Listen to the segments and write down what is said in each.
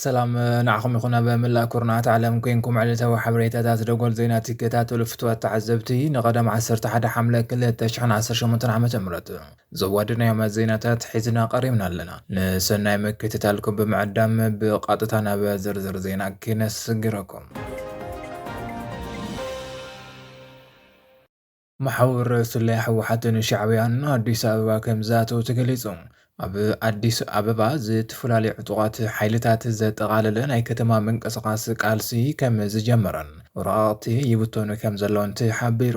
ሰላም ንዓኹም ይኹን ኣብ መላእ ኩርናዓት ዓለም ኮንኩም ዕለታዊ ሓበሬታታት ደጎል ዜና ትከታተሉ ፍትዋት ተዓዘብቲ ንቐደም 11 ሓምለ 2018 ዓ ም ዘዋደናዮም ዜናታት ሒዝና ቀሪብና ኣለና። ንሰናይ ምክትታልኩም ብምዕዳም ብቐጥታ ናብ ዝርዝር ዜና ኪነስግረኩም። መሓውር ስለያ ህወሓትን ሻዕብያን ንኣዲስ ኣበባ ከምዝኣተው ተገሊጹ። ኣብ ኣዲስ ኣበባ ዝተፈላለዩ ዕጡቓት ሓይልታት ዘጠቓለለ ናይ ከተማ ምንቅስቓስ ቃልሲ ከም ዝጀመረን ወረቓቕቲ ይብተኑ ከም ዘለውን ተሓቢሩ።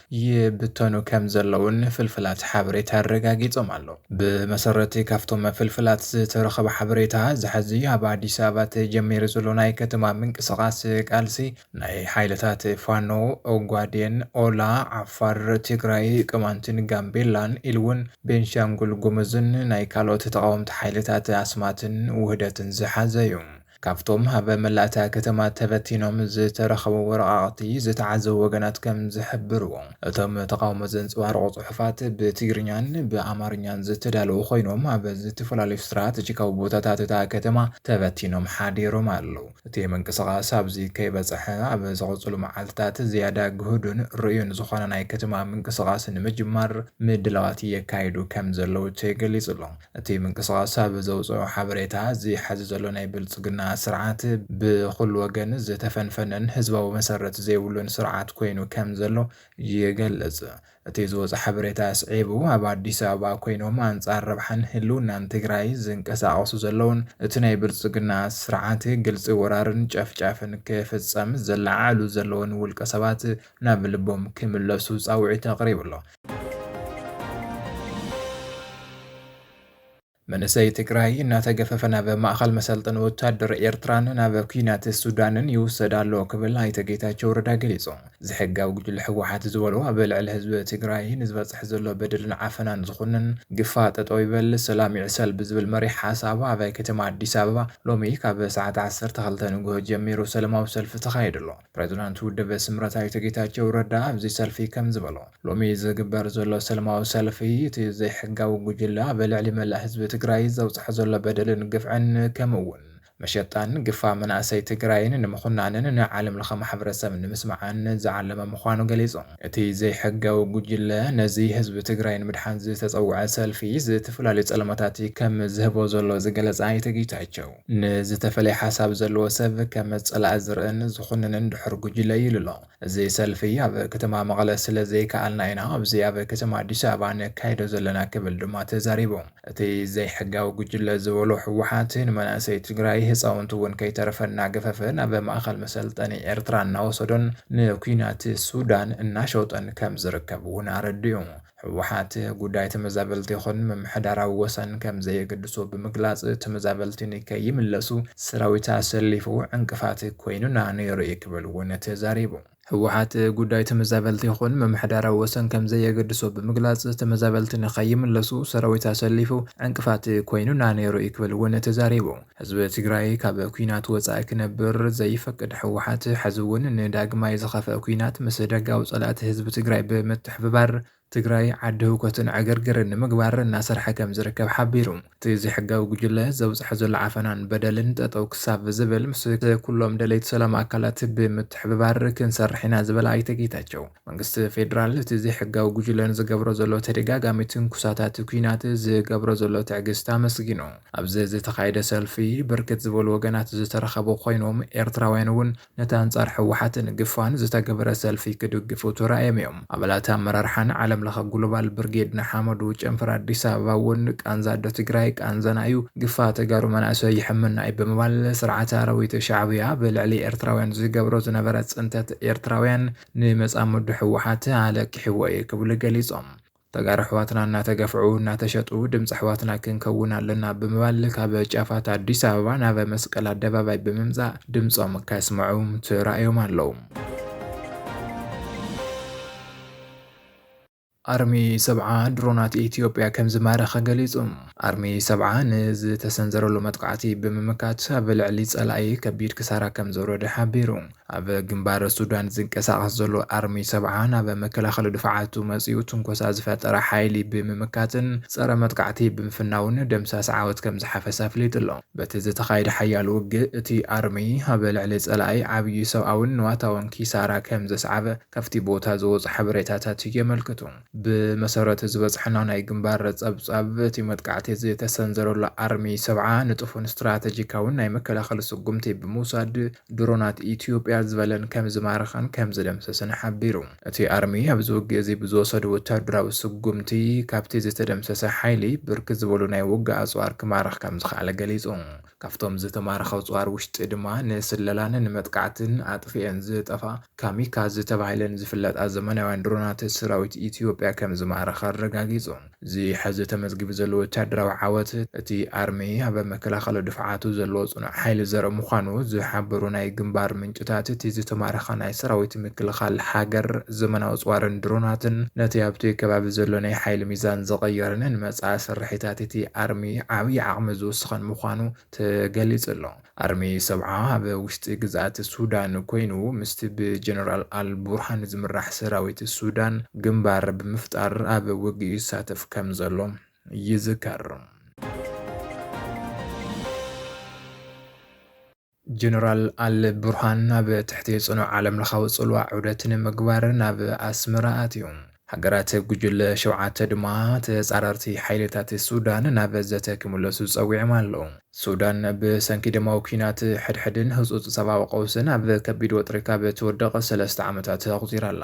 ይብተኑ ከም ዘለዉን ፍልፍላት ሓበሬታ ኣረጋጊጾም ኣለዉ። ብመሰረት'ቲ ካብቶም ፍልፍላት ዝተረኸበ ሓበሬታ፣ እዚ ሕዚ ኣብ ኣዲስ ኣበባ ተጀሚሩ ዘሎ ናይ ከተማ ምንቅስቓስ ቃልሲ፣ ናይ ሓይልታት ፋኖ፣ ኦጋዴን፣ ኦላ፣ ዓፋር፣ ትግራይ፣ ቅማንትን ጋምቤላን ኢሉ'ውን ቤንሻንጉል ጉሙዝን ናይ ካልኦት ተቓወምቲ ሓይልታት ኣስማትን ውህደትን ዝሓዘ'ዩ። ካብቶም ኣብ መላእ እታ ከተማ ተበቲኖም ዝተረኸቡ ወረቓቕቲ ዝተዓዘቡ ወገናት ከም ዝሕብርዎ፣ እቶም ተቓውሞ ዘንጸባርቑ ጽሑፋት ብትግርኛን ብኣማርኛን ዝተዳለዉ ኮይኖም፣ ኣብ ዝተፈላለዩ ስትራተጂካዊ ቦታታት እታ ከተማ ተበቲኖም ሓዲሮም ኣለዉ። እቲ ምንቅስቓስ ኣብዚ ከይበጽሐ፣ ኣብ ዝቕጽሉ መዓልትታት ዝያዳ ግሁድን ርኡዩን ዝኾነ ናይ ከተማ ምንቅስቓስ ንምጅማር ምድላዋት የካይዱ ከም ዘለዉ ተገሊጹ'ሎ። እቲ ምንቅስቓስ ኣብ ዘውፀኦ ሓበሬታ፣ እዚ ሐዚ ዘሎ ናይ ብልፅግና ስርዓት ብኹሉ ወገን ዝተፈንፈነን ህዝባዊ መሰረት ዘይብሉን ስርዓት ኮይኑ ከምዘሎ ይገልፅ። እቲ ዝወፀ ሓበሬታ ኣስዒቡ፣ ኣብ ኣዲስ ኣበባ ኮይኖም ኣንፃር ረብሓን ህልውናን ትግራይ ዝንቀሳቐሱ ዘለውን እቲ ናይ ብልፅግና ስርዓት ግልፂ ወራርን ጨፍጫፍን ክፍፀም ዘለዓዕሉ ዘለውን ውልቀ ሰባት ናብ ልቦም ክምለሱ ፃውዒት ኣቕሪቡ ኣሎ። መንእሰይ ትግራይ እናተገፈፈ ናብ ማእኸል መሰልጠኒ ወታደር ኤርትራን ናብ ኩናት ሱዳንን ይውሰድ ኣሎ ክብል ኣይተ ጌታቸው ረዳ ገሊጹ። ዝሕጋዊ ጉጅለ ህወሓት ዝበሎ ኣብ ልዕሊ ህዝቢ ትግራይ ንዝበፅሕ ዘሎ በደልን ዓፈናን ዝኹንን ግፋ ጠጠው ይበል ሰላም ይዕሰል ብዝብል መሪሕ ሓሳብ ኣብ ከተማ ኣዲስ ኣበባ ሎሚ ካብ ሰዓት ዓሰርተ ክልተ ንጉሆ ጀሚሩ ሰለማዊ ሰልፊ ተኻይዱ ኣሎ። ፕሬዝዳንት ውድብ ስምረት ኣይተ ጌታቸው ረዳ ኣብዚ ሰልፊ ከምዝበሉ፣ ሎሚ ዝግበር ዘሎ ሰለማዊ ሰልፊ እቲ ዘይሕጋዊ ጉጅለ ኣብ ልዕሊ መላእ ህዝቢ ትግራይ ዘብፅሖ ዘሎ በደልን ግፍዕን ከምኡ እውን መሸጣን ግፋ መናእሰይ ትግራይን ንምኹናንን ንዓለም ለኸ ማሕበረሰብ ንምስማዕን ዝዓለመ ምዃኑ ገሊፁ። እቲ ዘይሕጋዊ ጉጅለ ነዚ ህዝቢ ትግራይ ንምድሓን ዝተፀውዐ ሰልፊ ዝተፈላለዩ ፀለመታት ከም ዝህቦ ዘሎ ዝገለፀ ኣይተ ጌታቸው፣ ንዝተፈለየ ሓሳብ ዘለዎ ሰብ ከም ፀላኢ ዝርእን ዝኹንንን ድሑር ጉጅለ እዩ ኢሉ'ሎ። እዚ ሰልፊ ኣብ ከተማ መቐለ ስለ ዘይከኣልና ኢና ኣብዚ ኣብ ከተማ ኣዲስ ኣበባ ነካይዶ ዘለና ክብል ድማ ተዛሪቡ። እቲ ዘይሕጋዊ ጉጅለ ዝበሎ ህወሓት ንመናእሰይ ትግራይ ህፃውንቲ እውን ከይተረፈ እናገፈፈ ናብ ማእኸል መሰልጠኒ ኤርትራ እናወሰዶን ንኲናት ሱዳን እናሸወጠን ከም ዝርከብ እውን ኣረዲኡ። ህወሓት፣ ጉዳይ ተመዛበልቲ ይኹን ምምሕዳራዊ ወሰን ከምዘየገድሶ ብምግላፅ፣ ተመዛበልቲ ንከይምለሱ ሰራዊት ኣሰሊፉ ዕንቅፋት ኮይኑና ነይሩ እዩ ክብል እውን ተዛሪቡ። ህወሓት፣ ጉዳይ ተመዛበልቲ ይኹን ምምሕዳራዊ ወሰን ከምዘየገድሶ ብምግላፅ፣ ተመዛበልቲ ንከይምለሱ ሰራዊት ኣሰሊፉ ዕንቅፋት ኮይኑና ነይሩ እዩ ክብል እውን ተዛሪቡ። ህዝቢ ትግራይ ካብ ኲናት ወፃኢ ክነብር ዘይፈቅድ ህወሓት ሐዚ እውን ንዳግማይ ዝኸፍአ ኲናት ምስ ደጋዊ ፀላእቲ ህዝቢ ትግራይ ብምትሕብባር ትግራይ ዓዲ ህውከትን ዕግርግርን ንምግባር እናሰርሐ ከም ዝርከብ ሓቢሩ። እቲ ዘይሕጋዊ ጉጅለ ዘብፅሖ ዘሎ ዓፈናን በደልን ጠጠው ክሳብ ዝብል ምስ ኩሎም ደለይቲ ሰላም ኣካላት ብምትሕብባር ክንሰርሕ ኢና ዝበለ ኣይተ ጌታቸው፣ መንግስቲ ፌዴራል እቲ ዘይሕጋዊ ጉጅለ ንዝገብሮ ዘሎ ተደጋጋሚ ትንኩሳታት ኲናት ዝገብሮ ዘሎ ትዕግስቲ ኣመስጊኑ። ኣብዚ ዝተኻየደ ሰልፊ ብርክት ዝበሉ ወገናት ዝተረኸቡ ኮይኖም ኤርትራውያን እውን ነቲ ኣንጻር ህወሓትን ግፋን ዝተገበረ ሰልፊ ክድግፉ ተራእዮም እዮም። ኣባላት ኣመራርሓን ዓለም ለኸ ጉሎባል ብርጌድ ንሓመዱ ጨንፈር ኣዲስ ኣበባ እውን ቃንዛ ኣዶ ትግራይ ቃንዛና እዩ፣ ግፋ ተጋሩ መናእሰይ ይሕመና እዩ ብምባል ስርዓት ኣራዊት ሻዕብያ ኣብ ልዕሊ ኤርትራውያን ዝገብሮ ዝነበረ ፅንተት ኤርትራውያን ንመፃምዱ ህወሓት ኣለቂሕዎ እዩ ክብሉ ገሊፆም። ተጋሩ ኣሕዋትና እናተገፍዑ እናተሸጡ ድምፂ ኣሕዋትና ክንከውን ኣለና ብምባል ካብ ጫፋት ኣዲስ ኣበባ ናብ መስቀል ኣደባባይ ብምምፃእ ድምፆም ከስምዑ ተራእዮም ኣለዉ። ኣርሚ ሰብዓ ድሮናት ኢትዮጵያ ከም ዝማረኸ ገሊጹ። ኣርሚ ሰብዓ ንዝተሰንዘረሉ መጥቃዕቲ ብምምካት ኣብ ልዕሊ ጸላኢ ከቢድ ክሳራ ከም ዘውረደ ሓቢሩ። ኣብ ግንባር ሱዳን ዝንቀሳቐስ ዘሎ ኣርሚ ሰብዓ ናብ መከላኸሊ ድፋዓቱ መፂኡ ትንኮሳ ዝፈጠረ ሓይሊ ብምምካትን ፀረ መጥቃዕቲ ብምፍናውን ደምሳስ ዓወት ከምዝሓፈሰ ኣፍሊጡ ኣሎ። በቲ ዝተኻየደ ሓያል ውግእ እቲ ኣርሚ ኣብ ልዕሊ ፀላኢ ዓብዪ ሰብኣዊን ንዋታውን ኪሳራ ከምዘስዓበ ካብቲ ቦታ ዝወፁ ሓበሬታታት የመልክቱ። ብመሰረት ዝበፅሐና ናይ ግንባር ፀብፃብ እቲ መጥቃዕቲ ዝተሰንዘረሉ ኣርሚ ሰብዓ ንጡፍን ስትራተጂካዊን ናይ መከላኸሊ ስጉምቲ ብምውሳድ ድሮናት ኢትዮጵያ ዝበለን ከምዝማረኸን ከምዝደምሰሰን ሓቢሩ። እቲ ኣርሚ ኣብዚ ውግእ እዚ ብዝወሰዶ ወታደራዊ ስጉምቲ ካብቲ ዝተደምሰሰ ሓይሊ ብርክት ዝበሉ ናይ ውግእ ኣፅዋር ክማርኽ ከምዝኸኣለ ገሊፁ። ካብቶም ዝተማረኸ ኣፅዋር ውሽጢ ድማ ንስለላን ንመጥቃዕትን ኣጥፊኤን ዝጠፍኣ ካሚካዝ ተባሂለን ዝፍለጣ ዘመናውያን ድሮናት ሰራዊት ኢትዮጵያ ከምዝማረኸ ኣረጋጊፁ። እዚ ሐዚ ተመዝጊቡ ዘሎ ወታደራዊ ዓወት እቲ ኣርሚ ኣብ መከላኸሊ ድፍዓቱ ዘለዎ ፅኑዕ ሓይሊ ዘርኢ ምዃኑ ዝሓበሩ ናይ ግንባር ምንጭታት እቲ ዝተማረኸ ናይ ሰራዊት ምክልኻል ሃገር ዘመናዊ ኣጽዋርን ድሮናትን ነቲ ኣብቲ ከባቢ ዘሎ ናይ ሓይሊ ሚዛን ዝቐየረን ንመጻኢ ስርሒታት እቲ ኣርሚ ዓብዪ ዓቕሚ ዝውስኸን ምዃኑ ተገሊጹ ኣሎ። ኣርሚ ሰብዓ ኣብ ውሽጢ ግዝኣት ሱዳን ኰይኑ ምስቲ ብጀነራል ኣል ቡርሃን ዝምራሕ ሰራዊት ሱዳን ግንባር ብምፍጣር ኣብ ውግእ ይሳተፍ ከም ዘሎ ይዝከር። ጀነራል ኣል ቡርሃን ናብ ትሕቲ ጽኑዕ ዓለምለኻዊ ጽልዋ ዑደት ንምግባር ናብ ኣስመራ ኣትዩ። ሃገራት ጉጅለ ሸውዓተ ድማ ተጻረርቲ ሓይልታት ሱዳን ናብ ዘተ ክምለሱ ጸዊዖም ኣለዉ። ሱዳን ብሰንኪ ደማዊ ኲናት ሕድሕድን ህጹጽ ሰብኣዊ ቀውስን ኣብ ከቢድ ወጥሪ ካብ ትወድቕ ሰለስተ ዓመታት ኣቑጺራ ኣላ።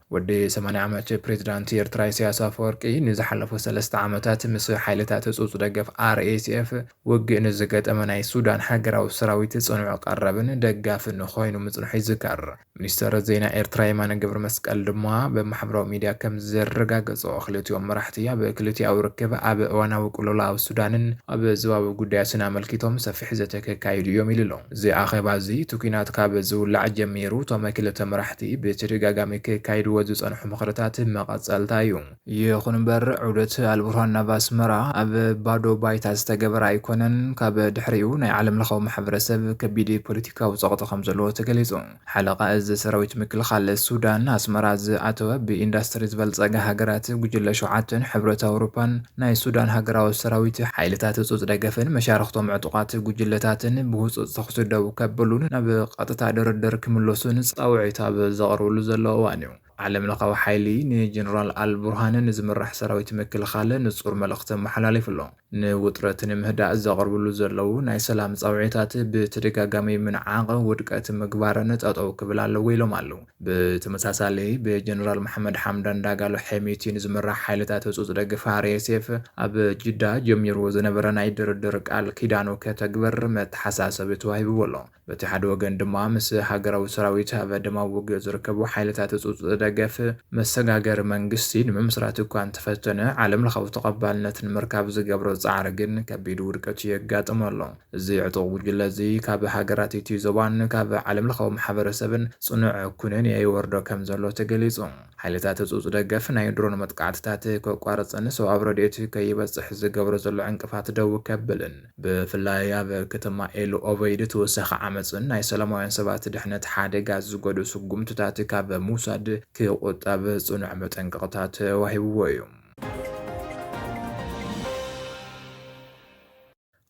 ወዲ ሰማንያ ዓመት ፕሬዝዳንት ኤርትራ ኢሳያስ ኣፈወርቂ ንዝሓለፉ ሰለስተ ዓመታት ምስ ሓይልታት ህጹጽ ደገፍ RSF ውግእ ንዝገጠመ ናይ ሱዳን ሃገራዊ ሰራዊት ጽኑዕ ቀረብን ደጋፍን ኮይኑ ምጽንሑ ይዝከር። ሚኒስተር ዜና ኤርትራ የማነ ገብረመስቀል ድማ ብ ማሕበራዊ ሚድያ ከም ዘረጋገጾ ክልቲኦም መራሕቲ ኣብ ክልቲኣዊ ርክብ፣ ኣብ እዋናዊ ቅልውላው ሱዳንን ኣብ ዞባዊ ጉዳያትን ኣመልኪቶም ሰፊሕ ዘተ ከካይዱ እዮም ኢሉ'ሎ። እዚ ኣኼባ እዚ እቲ ኲናት ካብ ዝውላዕ ጀሚሩ እቶም ክልተ መራሕቲ ብተደጋጋሚ ከካይድዎ ዝጸንሑ ምኽርታት መቐጸልታ እዩ። ይኹን እምበር ዑደት ኣልቡርሃን ናብ ኣስመራ ኣብ ባዶ ባይታ ዝተገበረ ኣይኮነን፣ ካብ ድሕሪኡ ናይ ዓለምለኻዊ ማሕበረሰብ ከቢድ ፖለቲካዊ ጸቕጢ ከምዘለዎ ተገሊጹ። ሓለቓ እዝ ሰራዊት ምክልኻል ሱዳን፣ ኣስመራ ዝኣተወ ብኢንዳስትሪ ዝበልፀጋ ሃገራት፣ ጉጅለ ሸውዓተን፣ ሕብረት ኣውሮፓን ናይ ሱዳን ሃገራዊ ሰራዊት፣ ሓይልታት ህፁፅ ደገፍን መሻርኽቶም ዕጡቓት ጉጅለታትን ብህፁፅ ተኹሲ ደው ከብሉን ናብ ቐጥታ ድርድር ክምለሱን ፃውዒት ኣብ ዘቕርብሉ ዘለዉ እዋን እዩ። ዓለምለኻዊ ሓይሊ ንጀነራል ኣል ቡርሃን ንዝምራሕ ሰራዊት ምክልኻል ንፁር መልእኽቲ ኣመሓላሊፉ ኣሎ። ንውጥረት ንምህዳእ ዘቕርብሉ ዘለዉ ናይ ሰላም ፃውዒታት ብተደጋጋሚ ምንዓቕ፣ ውድቀት ምግባርን ጠጠው ክብል ኣለዎ ኢሎም ኣለው። ብተመሳሳሊ ብጀነራል መሓመድ ሓምዳን ዳጋሎ ሐሚቲ ንዝምራሕ ሓይልታት ህፁፅ ደግፍ፣ RSF፣ ኣብ ጅዳ ጀሚርዎ ዝነበረ ናይ ድርድር ቃል ኪዳኑ ከተግብር መተሓሳሰቢ ተዋሂብዎ ኣሎ። በቲ ሓደ ወገን ድማ ምስ ሃገራዊ ሰራዊት ኣብ ደማዊ ውግእ ዝርከቡ ሓይልታት ህጹጽ ደገፍ መሰጋገሪ መንግስቲ ንምምስራት እኳ እንተፈተነ ዓለምለኻዊ ተቐባልነት ንምርካብ ዝገብሮ ጻዕሪ ግን ከቢድ ውድቀት የጋጥሞ ኣሎ። እዚ ዕጡቕ ጉጅለ እዚ ካብ ሃገራት እቲ ዞባን ካብ ዓለምለኻዊ ማሕበረሰብን ጽኑዕ ኩነኔ ይወርዶ ከም ዘሎ ተገሊጹ። ሓይልታት ህጹጽ ደገፍ ናይ ድሮን መጥቃዕትታት ከቋርጽን ሰውኣዊ ረድኤት ከይበጽሕ ዝገብሮ ዘሎ ዕንቅፋት ደው ከብልን፣ ብፍላይ ኣብ ከተማ ኤል ኦበይድ ተወሳኺ ዓመጽን ናይ ሰላማውያን ሰባት ድሕነት ሓደጋ ዝገዱ ስጉምትታት ካብ ምውሳድ ክቑጠብ ጽኑዕ መጠንቀቕታ ተዋሂብዎ እዩ።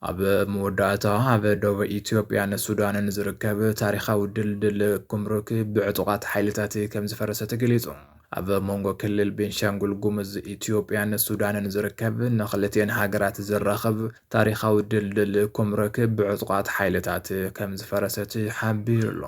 ኣብ መወዳእታ፣ ኣብ ደቡብ ኢትዮጵያን ሱዳንን ዝርከብ ታሪኻዊ ድልድል ጉምሩክ ብዕጡቓት ሓይልታት ከምዝፈረሰ ተገሊጹ። ኣብ መንጎ ክልል ቤንሻንጉል ጉምዝ ኢትዮጵያን ሱዳንን ዝርከብ ንክልቲኤን ሃገራት ዘራኽብ ታሪኻዊ ድልድል ኩምረክ ብዕጡቓት ሓይልታት ከምዝፈረሰት ሓቢሩ'ሎ።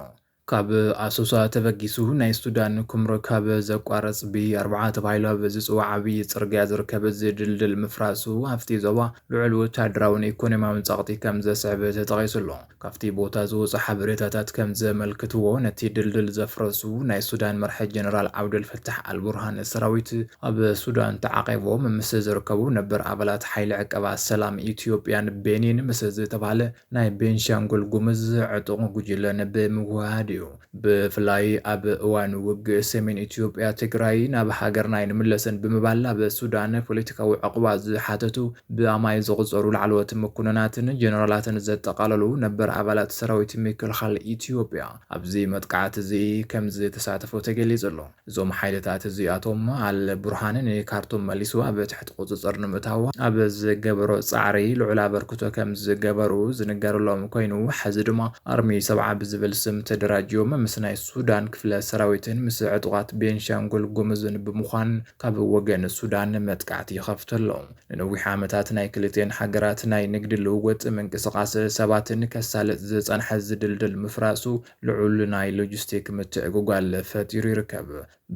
ካብ ኣሶሳ ተበጊሱ ናይ ሱዳን ኩምረክ ኣብ ዘቋርፅ ቢ ኣርብዓ ተባሂሉ ኣብ ዝፅዋዕ ዓብዪ ፅርግያ ዝርከብ እዚ ድልድል ምፍራሱ ኣብቲ ዞባ ልዑል ወታደራውን ኢኮኖሚያውን ፀቕጢ ከምዘስዕብ ተጠቒሱ'ሎ። ካብቲ ቦታ ዝወጹ ሓበሬታታት ከም ዘመልክትዎ፣ ነቲ ድልድል ዘፍረሱ ናይ ሱዳን መራሒ ጀነራል ዓብደል ፈታሕ ኣል ቡርሃን ሰራዊት ኣብ ሱዳን ተዓቚቦም ምስ ዝርከቡ ነበር ኣባላት ሓይሊ ዕቀባ ሰላም ኢትዮጵያን ቤኒን ምስ ዝተባህለ ናይ ቤንሻንጉል ጉምዝ ዕጡቕ ጉጅለን ብምውህሃድ እዩ። ብፍላይ ኣብ እዋን ውግእ ሰሜን ኢትዮጵያ ትግራይ ናብ ሃገርና ኣይንምለስን ብምባል ናብ ሱዳን ፖለቲካዊ ዑቕባ ዝሓተቱ ብኣማኢት ዝቑፀሩ ላዕለዎት መኮንናትን ጀነራላትን ዘጠቓለሉ ነበር ኣባላት ሰራዊት ምክልኻል ኢትዮጵያ ኣብዚ መጥቃዕቲ እዚ ከምዝተሳተፉ ተገሊፁ ኣሎ። እዞም ሓይልታት እዚኣቶም ኣል ቡርሃን ንካርቱም መሊሱ ኣብ ትሕቲ ቁጽጽር ንምእታው ኣብ ዝገበሮ ጻዕሪ ልዑል ኣበርክቶ ከም ዝገበሩ ዝንገረሎም ኮይኑ ሐዚ ድማ ኣርሚ ሰብዓ ብዝብል ስም ተደራጅዮም ምስ ናይ ሱዳን ክፍለ ሰራዊትን ምስ ዕጡቓት ቤንሻንጉል ጉሙዝን ብምዃን ካብ ወገን ሱዳን መጥቃዕቲ ይኸፍቱ ኣለው። ንነዊሕ ዓመታት ናይ ክልቲኤን ሃገራት ናይ ንግዲ ልውውጥ፣ ምንቅስቓስ ሰባትን ከሳልጥ ዝጸንሐ እዚ ድልድል ምፍራሱ ልዑል ናይ ሎጂስቲክ ምትዕጉጓል ፈጢሩ ይርከብ።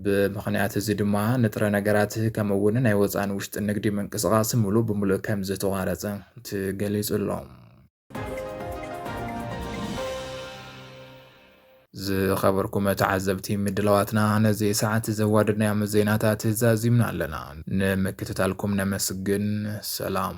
ብምኽንያት እዚ ድማ ንጥረ ነገራት ከምኡ እውን ናይ ወፃእን ውሽጥን ንግዲ ምንቅስቓስ ሙሉእ ብሙሉእ ከምዝተቋረፀ ተገሊፁ ኣሎ። ዝኸበርኩም ተዓዘብቲ ምድላዋትና ነዚ ሰዓት ዘዋደድናዮም ዜናታት ዛዚምና ኣለና። ንምክትታልኩም ነመስግን። ሰላም።